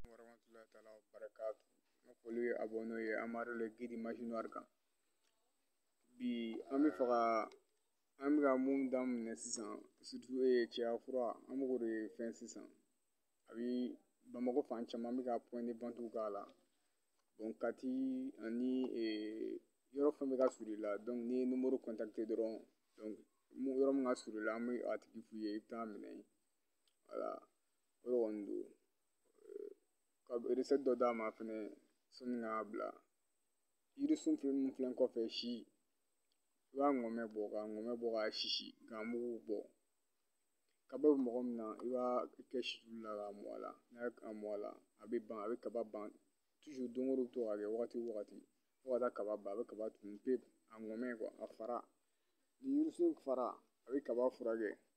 warahmatullahi taala wa barakatu ne foli bɛ abɔnew ye amadu le gidi masinari kan bi an bɛ fɛ ka an bɛ ka mun daminɛ sisan sutu ye cɛya fura an bɛ k'o de fɛn sisan a bi bamakɔ fan caman bɛ ka pɔn de wantiw k'a la kati ani yɔrɔ fɛn bɛ ka surun i la n'i ye nimoro kɔntakite dɔrɔn yɔrɔ min ka surun i la an bɛ a tigi f'i ye i bɛ taa minɛ yen wala o de kɔni don ka resɛti dɔ d'a ma fɛnɛ sani k'a bila yirisun fɛn minnu filɛ kɔfɛ si i b'a ŋɔmɛ bɔ k'a ŋɔmɛ bɔ k'a sisi k'a mugu bɔ kaba bɛ mɔgɔ min na i b'a kɛ situlu la k'a mɔ a la n'a ye a mɔ a la a bɛ ban a bɛ kaba ban don o don i bɛ to k'a kɛ wagati o wagati fo ka taa kaba ban a bɛ kaba tunun pewu a ŋɔmɛ a fara ni yirisun fara a bɛ kaba furakɛ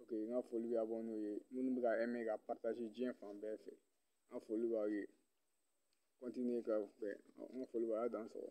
ok n ka foli bɛ abɔnew ye minnu bɛ ka ɛmɛ ka paritaze diɲɛ fan bɛɛ fɛ n ka foli b'aw ye kɔntiniye ka fɛ n ka foli b'aw ye a dan sɔrɔ